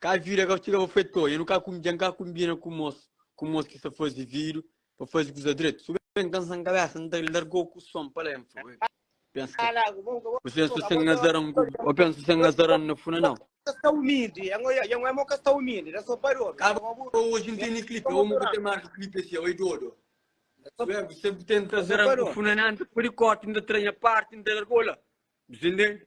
Ka vida ka txiga pa fetor dja nu ka dja nu ka kunbina ku mos ku mos ki sta fazi vidu pa fazi kuza dretu su ben ka nsan kabesa n ta largau ku son pa la nfa oi pensa ka bu pensa sen azaran ku o pensa sen azaran na funa nau ka ba oji n teni klipi o mu ka ten marka klipi asi oi dodo su ben bu sen bu tenta azaran ku funa nan ta pudi korti n ta traña parti n ta largau la bu sen denti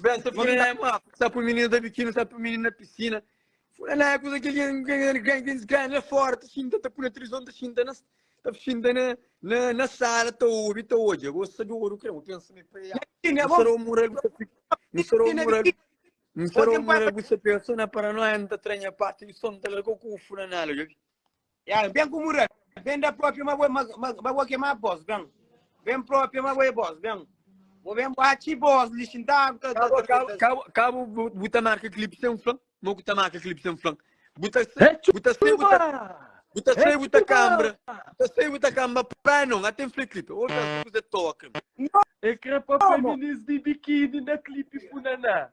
Bem, se põe na água, se põe menino da biquíni, se põe menino na piscina. Fora na água, aquele gangues ganha fora, tá xinta, tá põe na televisão, tá xinta na tá xinta na na na sala, tá ouve, tá hoje. Eu gosto de ouro, creio, pensa me pai. Não será o mural, não será o mural. Não será o mural, você pensa na paranoia, não tá tranha parte, ele só não tá largou com o fura na água. Ya, ben ku mura, ben da propia ma bo, ma, ma, ma bo kema bos, ben. Ben propia ma bo e bos, ben. Bo ben bo achi bos li xintadu ta, ta, Cabo, ta, cabo, ta. cabo, cabo, bu, bu ta marca clipe sem flan. Mo ku ta marca clipe sem flan. Bu ta sei, É bu ta sei, bu ta, tchuba! bu ta É sei, bu ta tchuba! cambra. Bu ta sei, bu ta cambra. Pai não, até flan clipe. Ou já se você toca. É crepa Como? feminis di biquíni na clipe funaná.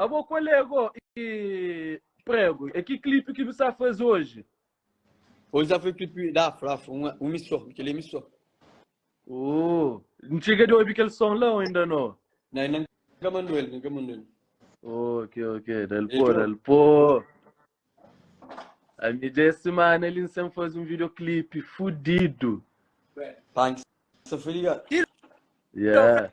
Abo kolega ô ki prego é ki clipe ki bu sa faze oji? Oji sa faze clipe da afro afro um missô kel é missô. Ooh n txiga di obi kel som la ô inda no? Na inda n ka mandou el n ka mandou el. Ok ok dal pô dal pô. A mi dê semana li n sem faze um video clipe fudido. Pá n sa foi ligado. Yeah.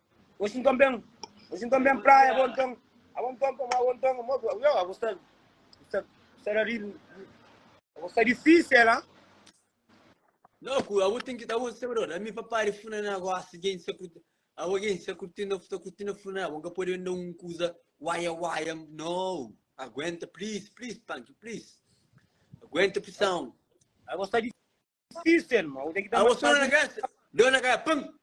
Oxi nton ben, oxi nton ben praia bo nton, abo nton komo abo nton komo abo, yo abo sta sta sta da riba, abo sta difícil ha. Loku, abo tem que abo sabe dor, ami pa pare funa na gosta gen sa curti, abo gen sa curti na sa curti na funa, abo nka pode venda um coisa waia waia, no, aguenta please please punk please, aguenta pressão. Abo sta di, System, ma ude ki ta Awa mas só na fazi. gás, deu na gás, pam!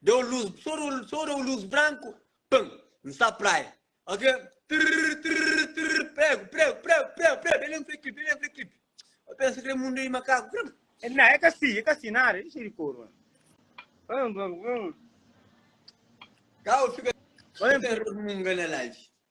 Deu luz, só deu, só deu luz branco, pam! N sa praia. Ok? Trrr, trrr, trrr, prego, prego, prego, prego, prego, dele um clipe, dele um clipe. Eu penso que é mundo de macaco, prego. Não, é que assim, é que assim, nada, deixa ele cor, mano. Vamos, vamos, vamos. Cá eu fico Olha, sem munga na live.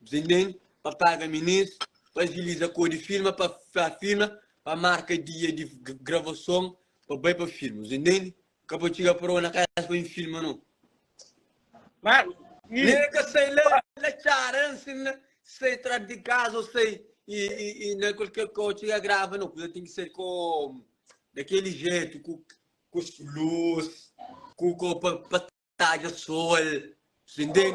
Bzen ben pa paga minis pa agiliza kô di firma pa firma pa marka dia di gravason pa bai pa firma bzen ben ka pa txiga prova na casa pa bin filma no. Mas. Nega ka sai la la txara ansin la sai tras di casa ou sai e e na qualquer kô txiga grava no kuza tem ki sai kô dakeli jetu ku ku luz ku kô pa pa tadja sol bzen ben.